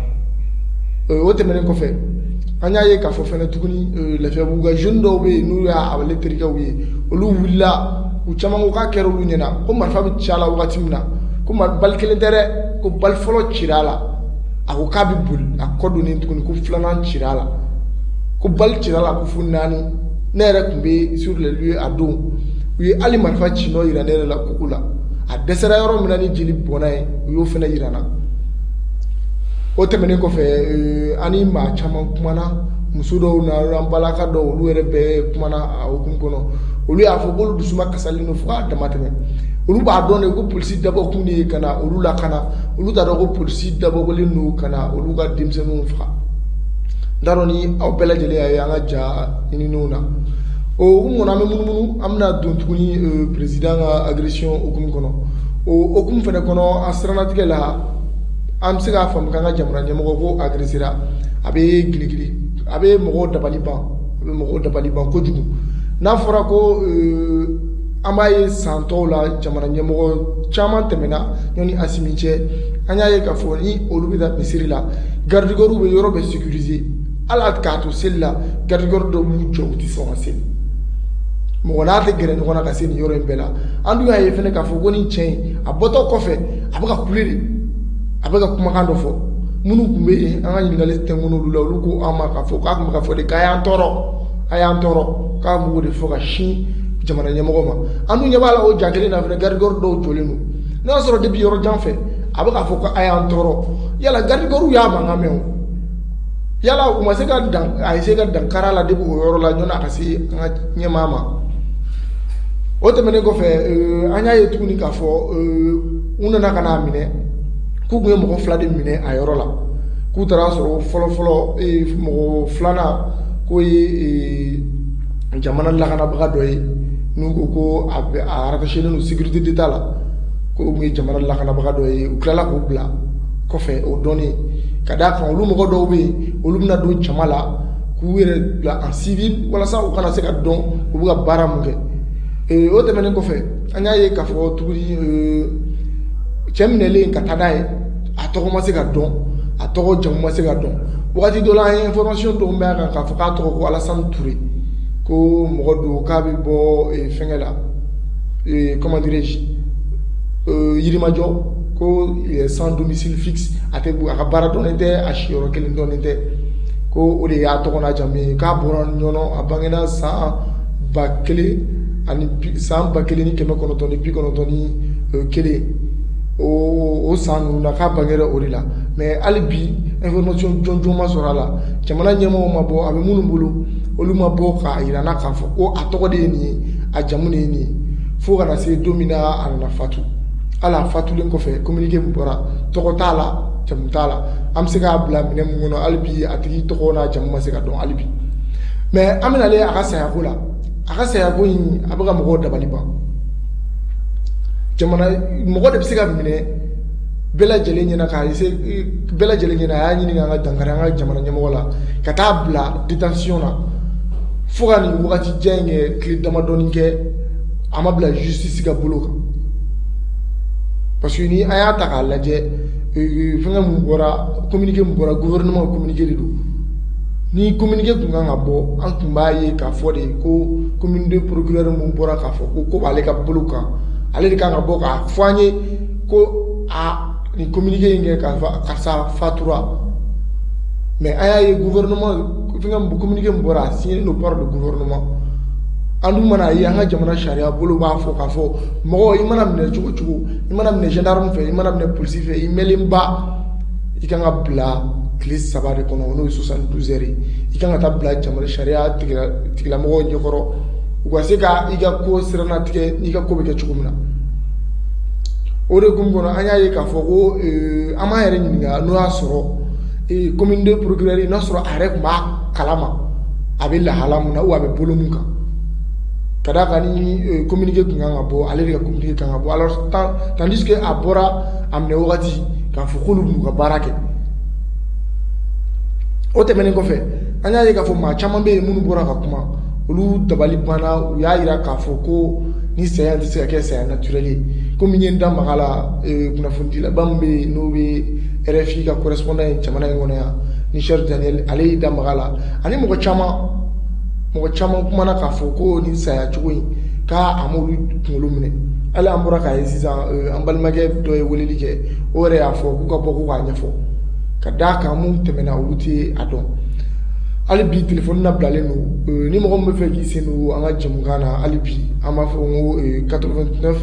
eh, o tɛmɛnen kɔfɛ an y'a ye k'a fɔ fɛnɛ tuguni lafiyabugu ka jeune dɔw bɛ yen n'u ye abulayi terikɛw ye olu wulila u caman ko k'a kɛra olu ɲɛna ko marifa bɛ ci a la wagati min na ko mari bali kelen tɛ dɛ ko bali fɔlɔ cira a la a ko k'a bɛ boli a kɔ donnen tuguni ko filanan cira a la ko bali cira a la ko fo naani ne yɛrɛ tun bɛ sur les lieux a don u ye hali marifa ci nɔ yira ne yɛrɛ la koko la a dɛsɛra yɔrɔ min na ni jeli bɔnna yen u y'o fana yira n na o tɛmɛnen kɔfɛ euh, an ni maa caman kumana muso dɔw na an balaka dɔw olu yɛrɛ bɛɛ kumana o hukumu kɔnɔ olu y'a fɔ k'olu dusuma kasalen don fo k'a damatɛmɛ olu b'a dɔn de ko polisi dabɔkun de ye ka na olu lakana olu t'a dɔn ko polisi dabɔkun de don ka na olu ka denmisɛnninw faga n t'a dɔn ni aw bɛɛ lajɛlen y'a ye an ka ja ninnu na o hukumu kɔnɔ an bɛ munumunu an bɛna don tuguni euh, peresidan ka agression hukumu kɔnɔ o hukumu fana kɔnɔ a siranatigɛ la an bɛ se k'a faamu k'an ka jamana ɲɛmɔgɔ k'o agresera a bɛ giligili a bɛ mɔgɔw dabali ban a bɛ mɔgɔw dabali ban kojugu n'a fɔra ko euh, an b'a ye san tɔw la jamana ɲɛmɔgɔ caman tɛmɛna ɲɔni asimi cɛ an y'a ye k'a fɔ ni olu bɛ taa misiri la garidikɔriw bɛ yɔrɔ bɛɛ sécuriser hali k'a to seli la garidikɔri dɔw b'u jɔ u tɛ sɔn ka seli mɔgɔ n'a tɛ gɛrɛ ɲɔgɔn na ka se nin yɔrɔ in bɛɛ la an dun y'a ye fana k'a fɔ ko nin cɛ in a bɔtɔ kɔfɛ a bɛ ka kule de a bɛ ka kumakan dɔ fɔ minnu tun bɛ yen an ka ɲininkali tɛnkun olu la olu ko an ma k'a fɔ k'a tun bɛ k'a fɔ de k'a y'an tɔɔrɔ a y'an tɔɔrɔ k'a b'o de fɔ ka sin jamana ɲɛmɔgɔ ma an dun ɲɛ b'a la o ja kelen na fana garidikɔri dɔw jɔlen don n'a y'a sɔrɔ depi yɔrɔ jan fɛ a bɛ k'a fɔ ko a y'an tɔɔrɔ yala garidikɔriw y'a mankan mɛn wa yala u ma se ka dan a ye se ka dankari a la depi o yɔrɔ la ɲɔni a ka se an ka ɲɛmaa ma o tɛmɛnen kɔfɛ euh, an y'a ye tuguni k'a fɔ euh, u nana ka n'a minɛ k'u tun ye mɔgɔ fila de minɛ a yɔrɔ la k'u taara a sɔrɔ fɔlɔfɔlɔ mɔgɔ filanan k'o ye ee, jamana lakanabaga dɔ ye n'u ko ko a bɛ a rattachélen don sécurité d'état la k'o ye jamana lakanabaga dɔ ye u tilala k'o bila kɔfɛ o dɔnnen ka d'a kan olu mɔgɔ dɔw bɛ yen olu bɛna don jama la k'u yɛrɛ bila en civil walasa u kana se ka dɔn u bɛ ka baara mun kɛ ee, o tɛmɛnen kɔfɛ an y'a ye k'a fɔ tuguni ee, cɛ minɛlen ka taa n'a ye a tɔgɔ ma se ka dɔn a tɔgɔ jamu ma se ka dɔn wagati dɔ la an ye information dɔw mɛn a kan k'a fɔ k'a tɔgɔ ko Alassane Toure ko mɔgɔ don k'a bɛ bɔ eh, fɛngɛ la eh, comment dirais-je euh, Yirimajɔ ko eh, sans domicile fixe a tɛ a ka baara dɔnnen tɛ a siyɔrɔ kelen dɔnnen tɛ ko o de y'a tɔgɔ n'a jamu ye k'a bɔra ɲɔnɔ a bangena san ba kelen ani bi- san ba kelen ni kɛmɛ kɔnɔntɔn ni bi kɔnɔntɔn ni eh, kelen o san ninnu na k'a bangera o de la mais hali bi information jɔnjɔn ma sɔrɔ a la jamana ɲɛmɔgɔw ma bɔ a bɛ minnu bolo olu ma bɔ k'a yira an na k'a fɔ ko a tɔgɔ de ye nin ye a jamu de ye nin ye fo ka na se don min na a nana fatu hali a fatulen kɔfɛ communiqué min bɔra tɔgɔ t'a la jamu t'a la an bɛ se k'a bila minɛn min kɔnɔ hali bi a tigi tɔgɔ n'a jamu ma se ka dɔn hali bi mais an bɛna ale a ka sayako la a ka sayako in a bɛ ka mɔgɔw dabali ban jamana mɔgɔ de bɛ se ka minɛ bɛɛ lajɛlen ɲɛna k'a ye bɛɛ lajɛlen ɲɛna a y'a ɲini ka dankari an ka jamana ɲɛmɔgɔ la ka taa bila détention na fo ka nin wagati jan in kɛ tile damadɔni kɛ a ma bila justice ka bolo kan parce que ni an y'a ta k'a lajɛ fɛngɛ mun bɔra communiqué mun bɔra gouvernement communiqué de don ni communiqué tun kan ka bɔ an tun b'a ye k'a fɔ de ko commune deux procureur mun bɔra k'a fɔ ko ko b'ale ka bolo kan ale de kan ka bɔ k'a fɔ an ye ko a nin communiqué in kɛ karisa fatura mais an y'a ye gouvernement fɛngɛ communiqué mun bɔra a signé don par le gouvernement an dun mana a ye an ka jamana sariya bolo b'a fɔ k'a fɔ mɔgɔ i mana minɛ cogo o cogo i mana minɛ gendarme fɛ i mana minɛ police fɛ i mɛnlenba i kan ka bila tile saba de kɔnɔ n'o ye soixante-douze heures i kan ka taa bila jamana sariya tigilamɔgɔw ɲɛkɔrɔ u ka se ka i ka ko sirana tigɛ n'i ka ko bɛ kɛ cogo min na o de kun kɔnɔ an y'a ye k'a fɔ ko an b'a yɛrɛ ɲininka n'o y'a sɔrɔ commune deux procureur n'a sɔrɔ a yɛrɛ tun b'a kalama a bɛ lahala min na wa a bɛ bolo min kan ka d'a kan ni communiqué tun kan ka bɔ ale de ka communiqué kan ka bɔ alors tandis que a bɔra a minɛ wagati k'a fɔ k'olu b'u ka baara kɛ o tɛmɛnen kɔfɛ an y'a ye k'a fɔ maa caman bɛ yen minnu bɔra ka kuma olu dabali banna u y'a yira k'a fɔ ko nin saya tɛ se ka kɛ saya naturel ye komi n ye n da maga la eh, kunnafonidilaba min bɛ yen n'o bɛ RFI ka correspondant ye jamana in kɔnɔ yan ni Serge Daniel ale y'i da maga la ani mɔgɔ caman mɔgɔ caman kumana k'a fɔ ko nin saya cogo in k' an kunkolo minɛ hali an bɔra k'a ye sisan an balimakɛ dɔ ye weleli kɛ o yɛrɛ y'a fɔ k'u ka bɔ k'a ɲɛfɔ ka d'a kan mun tɛmɛna olu tɛ a dɔn hali bi telefɔni labilalen don ni mɔgɔ min b'a fɛ k'i sen don an ka jɛmukan na hali bi an b'a fɔ ko quatre-vingt-neuf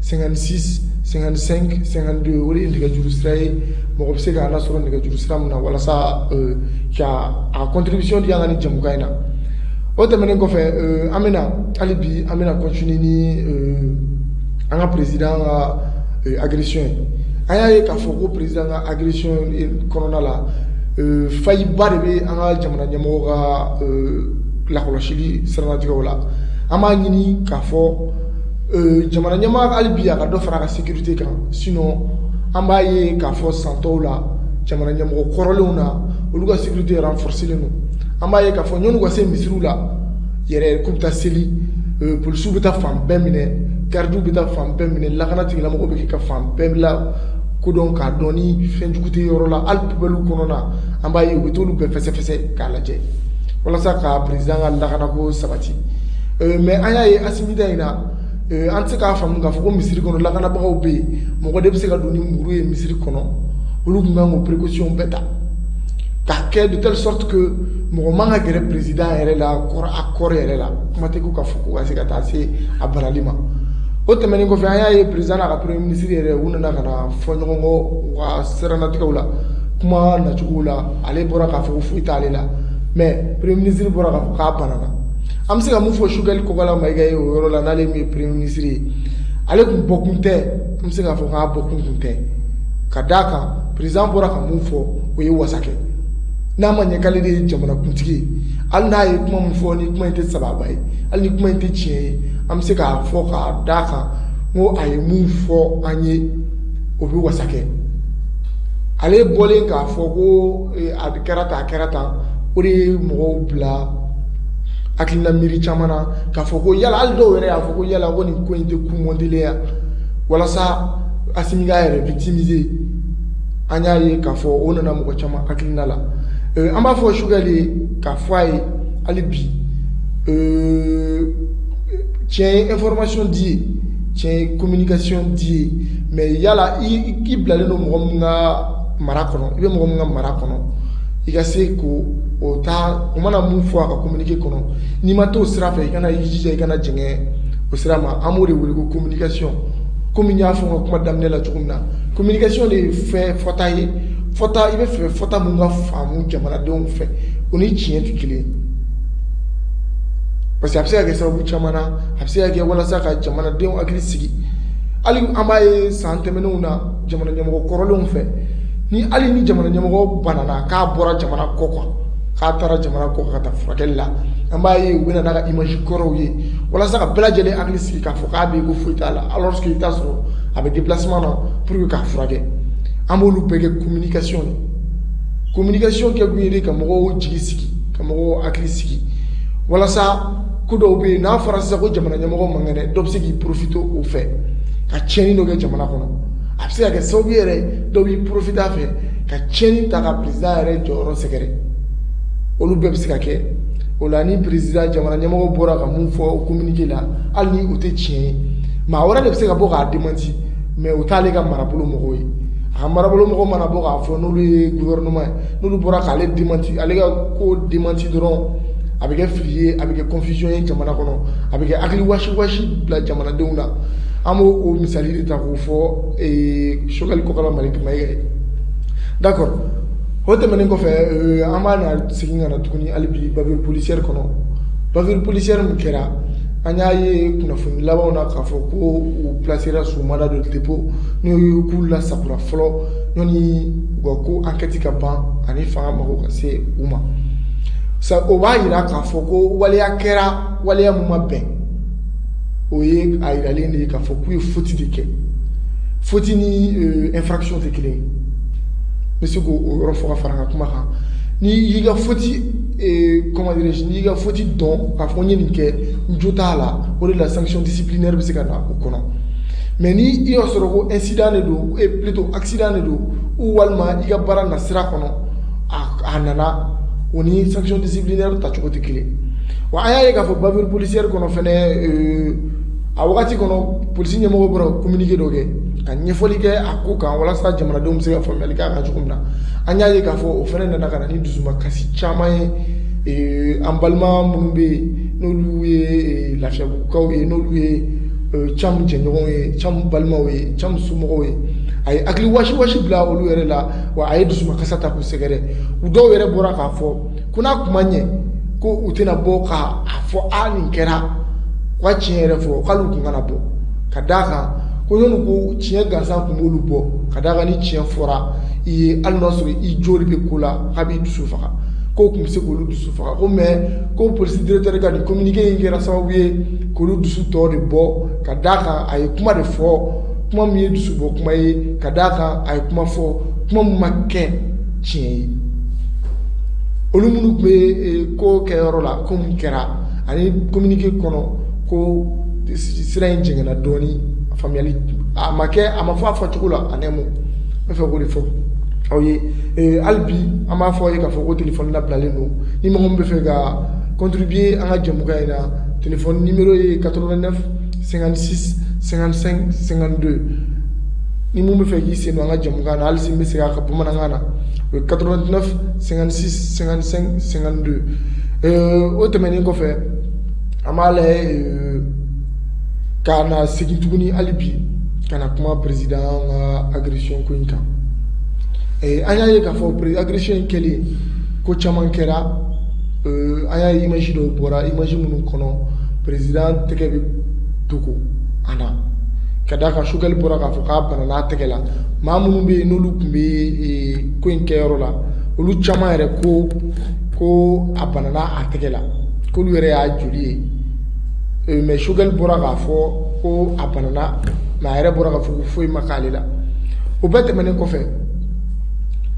cinquante-six cinquante-cinq cinquante-deux o de ye nɛgɛjuru sira ye mɔgɔ bɛ se k'an lasɔrɔ nɛgɛjuru sira min na walasa ka a contribution di an ka nin jɛmukan in na o tɛmɛnen kɔfɛ an bɛna hali bi an bɛna continuer ni an ka président ka agression ye an y'a ye k'a fɔ ko président ka agression kɔnɔna la faille ba de bɛ an ka jamana ɲɛmɔgɔ ka lakɔlɔsili siranatigɛw la an b'a ɲini k'a fɔ jamana ɲɛmaa hali bi a ka dɔ fara a ka sécurité kan sinon an b'a ye k'a fɔ san tɔw la jamana ɲɛmɔgɔ kɔrɔlenw na olu ka sécurité renforcelen don an b'a ye k'a fɔ yann'u ka se misiriw la yɛrɛ k'u bɛ taa seli euh, polisiw bɛ taa fan bɛɛ minɛ garidiw bɛ taa fan bɛɛ minɛ lakana tigilamɔgɔw b'a kɛ ka fan bɛɛ lakodɔn k'a dɔn ni fɛn jugu tɛ yɔrɔ la hali pubɛliw kɔnɔ na an b'a ye u bɛ t'olu bɛɛ fɛsɛfɛsɛ k'a lajɛ walasa ka président ka lakanako sabati euh, mais an y'a ye asimi ta in na Eh, an tɛ se k'a faamu k'a fɔ ko misiri kɔnɔ lakanabagaw bɛ yen mɔgɔ de bɛ se ka don ni muru ye misiri kɔnɔ olu tun kan k'o précaution bɛɛ ta k'a kɛ de telle sorte que mɔgɔ man ka gɛrɛ président yɛrɛ la kɔrɔ a kɔrɔ yɛrɛ la kuma tɛ ko ka fɔ ko ka se ka taa se a barali ma o tɛmɛnen kɔfɛ an y'a ye président n'a ka premier ministre yɛrɛ u nana ka na fɔ ɲɔgɔn kɔ u ka siranatigɛw la kuma nacogow la ale bɔra k'a fɔ ko foyi t'ale la mais premier ministre bɔra k'a fɔ k'a banana an bɛ se ka mun fɔ Choguel Kokalla Maïga ye o yɔrɔ la n'ale min ye premier ministre ye ale tun bɔkun tɛ an bɛ se k'a fɔ k'a bɔkun tun tɛ ka d'a kan président bɔra ka mun fɔ o ye wasa kɛ n'a ma ɲɛ k'ale de ye jamanakuntigi ye hali n'a ye kuma min fɔ ni kuma in tɛ sababa ye hali ni kuma in tɛ tiɲɛ ye an bɛ se k'a fɔ k'a d'a kan n ko a ye mun fɔ an ye o bɛ wasa kɛ ale bɔlen k'a fɔ ko a kɛra ta a kɛra tan o de ye mɔgɔw bila hakilila miiri caman na k'a fɔ ko yala hali dɔw yɛrɛ y'a fɔ ko yala ko nin ko in tɛ ko montélen ye walasa asimi k'a yɛrɛ victimiser an y'a ye k'a fɔ o nana mɔgɔ caman hakilina la euh, an b'a fɔ Choguel ye k'a fɔ a ye hali bi euh, tiɲɛ ye information di ye tiɲɛ ye communication di ye mais yala i bilalen don mɔgɔ min ka mara kɔnɔ i bɛ mɔgɔ min ka mara kɔnɔ i ka se k'o ta o mana mun fɔ a ka communiqué kɔnɔ n'i ma t'o sira fɛ i kana i jija i kana jɛngɛ o sira ma an b'o de wele ko communication komi n y'a fɔ n ka kuma daminɛ la cogo min na communication de ye fɛn fɔta ye fɔta i b'a fɛ fɔta mun ka faamu jamanadenw fɛ o ni tiɲɛ tɛ kelen ye parce que a bɛ se ka kɛ sababu caman na a bɛ se ka kɛ walasa ka jamanadenw hakili sigi hali an b'a ye san tɛmɛnenw na jamana ɲɛmɔgɔ kɔrɔlenw fɛ ni hali ni jamana ɲɛmɔgɔ banana k'a bɔra jamana kɔ kan k'a taara jamana kɔ kan taa furakɛli la an b'a ye u bɛ na n'a ka image kɔrɔw ye walasa ka bɛɛ lajɛlen hakili sigi k'a fɔ k'a bɛ ko foyi t'a la alors que i bɛ taa sɔrɔ a bɛ déplacement na pour que k'a furakɛ an b'olu bɛɛ kɛ communication de communication kɛ kun ye de ka mɔgɔw jigi sigi ka mɔgɔw hakili sigi walasa ko dɔw bɛ yen n'a fɔra sisan ko jamana ɲɛmɔgɔ man kɛnɛ dɔ bɛ se k'i profiter o fɛ ka tiɲɛni dɔ kɛ jamana kɔnɔ a bɛ se ka kɛ sababu yɛrɛ dɔw b'i porofite a fɛ ka tiɲɛni ta ka perezida yɛrɛ jɔyɔrɔ sɛgɛrɛ olu bɛɛ bɛ se ka kɛ o la ni perezida jamana ɲɛmɔgɔ bɔra ka mun fɔ kominike la hali ni o tɛ tiɲɛ ye maa wɛrɛ de bɛ se ka bɔ k'a demanti mɛ o t'ale ka marabolo mɔgɔw ye a ka marabolo mɔgɔ mana bɔ k'a fɔ n'olu ye guvɛrɛnɛma ye n'olu bɔra k'ale demanti ale ka ko demanti dɔrɔn a bɛ kɛ fili ye a bɛ kɛ kɔnfisɔn ye jamana kɔnɔ a bɛ kɛ hakili wasiwasi bila jamanadenw na an b'o o misali de ta k'o fɔ sogɛli kokala mayiga kuma ye dakɔ o tɛmɛnen kɔfɛ an bɛna segin ka na tuguni hali bi bavure policière kɔnɔ bavure policière min kɛra an y'a ye kunnafoni labanw na k'a fɔ ko u plasera sous mandat de dépôt n'o ye k'u lasagora fɔlɔ ni u ka ko enquête ka ban ani fanga mago ka se u ma o b'a jira k'a fɔ ko waleya kɛra waleya min ma bɛn o ye a yiralen de ye k'a fɔ k'u ye foti de kɛ foti ni infraction tɛ kelen ye n bɛ se k'o yɔrɔ fɔ ka fara n ka kuma kan n'i y'i ka foti comment dirais-je n'i y'i ka foti dɔn k'a fɔ n ye nin kɛ n jo t'a la o de la sanction disciplinaire bɛ se ka na o kɔnɔ mais ni i y'a sɔrɔ ko incident de don plutôt accident de don ou walima i ka baara nasira kɔnɔ a nana o ni sanction disciplinaire yɛrɛ ta cogo tɛ kelen wa an y'a ye k'a fɔ bavure policière kɔnɔ fana euh, a wagati kɔnɔ polisi ɲɛmɔgɔ bɔra ka communiqué dɔ kɛ ka ɲɛfɔli kɛ a ko kan walasa jamanadenw bɛ se ka faamuyali k'a kan cogo min na an y'a ye k'a fɔ o fana nana ka na ni dusumakasi caman ye euh, an balima minnu bɛ yen n'olu ye euh, lafiyabugukaw ye n'olu ye cam jɛɲɔgɔnw ye cam balimaw ye cam somɔgɔw ye a ye hakili wasiwasi bila olu yɛrɛ la wa a ye dusukasi ta k'u sɛgɛrɛ u dɔw yɛrɛ bɔra k'a fɔ ko n'a kuma ɲɛ ko u tɛna bɔ k' a fɔ a nin kɛra ka tiɲɛ yɛrɛ fɔ k'olu tun kana bɔ ka d' a kan ko ɲɔn ko tiɲɛ gansan tun b'olu bɔ ka d' a kan ni tiɲɛ fɔra i ye hali n'a sɔrɔ i joli bɛ ko la k'a b'i dusu faga ko tun bɛ se k'olu dusu faga ko mais ko polisi directeur ka nin kominike in kɛra sababu ye k'olu dusu tɔ de bɔ ka d' a kan a ye kuma de fɔ kuma min ye dusubɔ kuma ye ka d'a kan a ye kuma fɔ kuma min ma kɛ tiɲɛ ye olu minnu tun bɛ e, ko kɛ yɔrɔ la ko min kɛra ani kominike kɔnɔ ko sira in jɛngɛnna dɔɔnin a faamuyali a ma kɛ a ma fɔ a fɔcogo la en un mot n bɛ fɛ k'o de fɔ aw ye e, hali bi an b'a fɔ aw ye k'a fɔ ko telefɔni labilalen don ni mɔgɔ min bɛ fɛ ka contribuer an ka jɛmukan in na telefɔni nimero ye 89 sɛgɛnsɛdo ni minnu bɛ fɛ k'i sen an ka jamu na hali bɛ se a ka bamanankan na o ye kato sɛgɛnsɛdo o tɛmɛnen kɔfɛ an b'a la ka na segin tuguni hali bi ka na kuma peresida an ka akirisiy ko in kan an y'a ye k'a fɔ pereiri akirisiy in kɛlen ko caman kɛra Euh, an y'a image dɔw bɔra image minnu kɔnɔ président tɛgɛ bɛ dogo an na ka d'a kan Choguel bɔra k'a fɔ k'a banana a tɛgɛ la maa minnu bɛ yen n'olu tun bɛ eh, ko in kɛyɔrɔ la olu caman yɛrɛ ko ko a banana a tɛgɛ la k'olu yɛrɛ y'a joli ye eh, mais Choguel bɔra k'a fɔ ko a banana mais a yɛrɛ bɔra k'a fɔ ko foyi ma k'ale la o bɛɛ tɛmɛnen kɔfɛ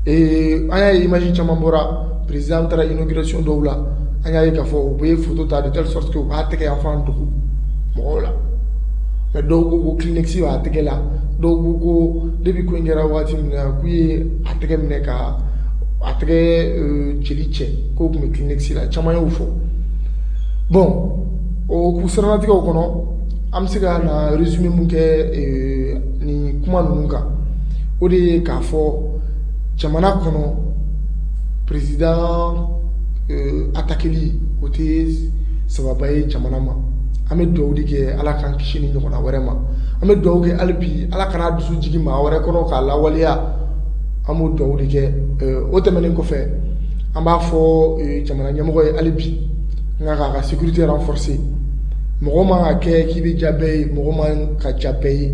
eh, an y'a ye image caman bɔra. président taara inauguration dɔw la an y'a ye k'a fɔ u bɛ ye photo ta de telle sorte que u b'a tɛgɛ yanfan dogo mɔgɔw la mais dɔw ko ko Kleenex b'a tɛgɛ la dɔw ko ko depuis ko in kɛra waati min na k'u ye a tɛgɛ minɛ ka a tɛgɛ euh, jeli cɛ k'o tun bɛ Kleenex la caman y'o fɔ bon o k'u siranatigɛw kɔnɔ an bɛ se ka na résumé mun kɛ euh, nin kuma ninnu kan o de ye k'a fɔ jamana kɔnɔ président euh, attaqueli o tɛ sababa ye jamana ma an bɛ dugawu de kɛ ala k'an kisi ni ɲɔgɔnna wɛrɛ ma an bɛ dugawu kɛ hali bi ala kana dusu jigin maa wɛrɛ kɔnɔ k'a lawaleya an b'o dugawu de kɛ euh, o tɛmɛnen kɔfɛ an b'a fɔ euh, jamana ɲɛmɔgɔ ye hali bi n ka k'a ka sécurité renforcer mɔgɔ man ka kɛ k'i bɛ diya bɛɛ ye mɔgɔ man ka diya bɛɛ ye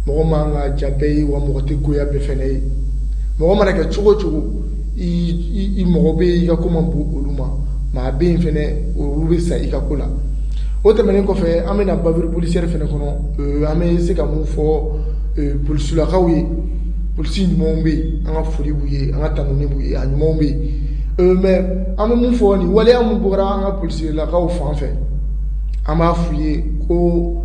mɔgɔ man ka diya bɛɛ ye wa mɔgɔ tɛ goya bɛɛ fana ye mɔgɔ mana kɛ cogo o cogo i mɔgɔ bɛ i ka ko man bon olu ma maa bɛ yen fana olu bɛ sa i ka ko la o tɛmɛnen kɔfɛ an bɛna bavure policière fana kɔnɔ euh, an bɛ se ka mun fɔ euh, polisilakaw ye polisi ɲumanw bɛ yen an ka foli b'u ye an ka tanuni b'u ye a ɲumanw bɛ yen euh, mais an bɛ mun fɔ nin waleya mun bɔra an ka polisilakaw fan fɛ an b'a f'u ye ko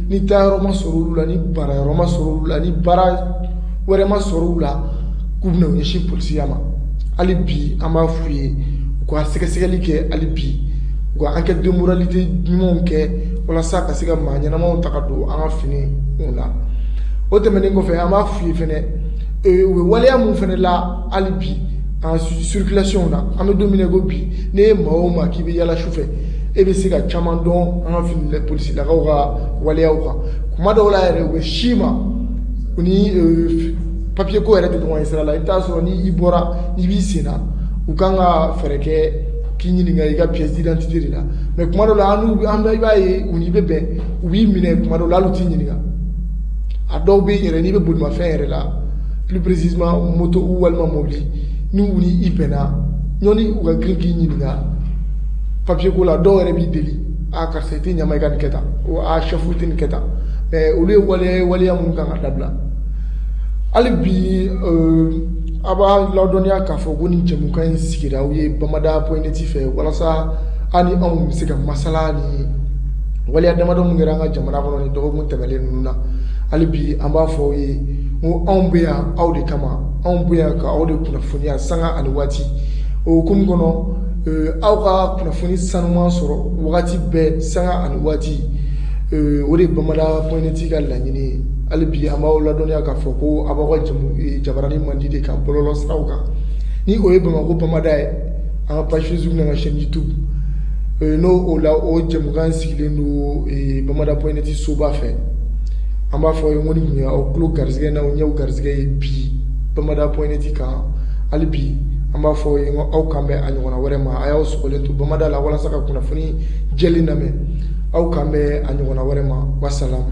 ni taayɔrɔ ma sɔrɔ olu la ni baarayɔrɔ ma sɔrɔ olu la ni baara wɛrɛ ma sɔrɔ olu la k'u bɛna u ɲɛsin polisiya ma hali bi an b'a f'u ye u ka sɛgɛsɛgɛli kɛ hali bi u ka enquête de moralité ɲumanw kɛ walasa ka se ka maa ɲɛnamaw ta ka don an ka finiko la o tɛmɛnen kɔfɛ an b'a f'u ye fɛnɛ ee, u bɛ waleya mun fɛnɛ la hali bi an circulation na an bɛ don min na ko bi n'e ye maa o maa k'i bɛ yaala su fɛ e bɛ se ka caman dɔn an ka fini polisilakaw ka waleyaw kan kuma dɔw la yɛrɛ u bɛ s'i ma u ni euh, papier ko yɛrɛ tɛ ɲɔgɔn ye sira la i bɛ taa sɔrɔ ni i bɔra n'i b'i sen na u kan ka fɛɛrɛ kɛ k'i ɲininka i ka pièce d'identité de la mais kuma dɔw la an n'u an bɛ i b'a ye u n'i bɛ bɛn u b'i minɛ kuma dɔw la hali u t'i ɲininka a dɔw bɛ yen yɛrɛ n'i bɛ bolimafɛn yɛrɛ la plus précisément moto walima mobili ni u ni i bɛnna yanni u ka girin k'i ɲininka papier ko la dɔw yɛrɛ b'i deli a ah, karisa i tɛ ɲama i ka nin kɛ tan o a ah, chef i tɛ nin kɛ tan mais olu ye waleya waleya minnu kan ka dabila hali bi euh, an b'aw ladɔnniya k'a fɔ ko nin jɛmukan in sigira aw ye bamada point net fɛ walasa aw ni anw bɛ se ka masala ni waleya damadɔ min kɛra an ka jamana kɔnɔ nin dɔgɔkun tɛmɛlen ninnu na hali bi an b'a fɔ aw ye n ko anw bɛ yan aw de kama anw bɛ yan ka aw de kunnafoniya sanga ani waati o hukumu kɔnɔ aw ka kunnafoni sanuman sɔrɔ wagati bɛɛ sanga ani waati o de bamada point net ka laɲini ye hali bi an b'aw ladɔnniya k'a fɔ ko a b'aw ka jabaranin mandi de kan bɔlɔlɔ siraw kan ni o ye bamakɔ bamada ye an ka page facebook n'an ka chaîne youtube n'o o la o jɛmukan sigilen don bamada point net soba fɛ an b'a fɔ aw ye ko nin tun ye aw tulo garisɛgɛ n'aw ɲɛ garisɛgɛ ye bi bamada point net kan hali bi an b'a fɔ aw ye ko aw k'an bɛn a ɲɔgɔnna wɛrɛ ma a y'aw sɔgɔlen to bamada la walasa ka kunnafoni jɛlen lamɛn aw k'an bɛn a ɲɔgɔnna wɛrɛ ma wasalamu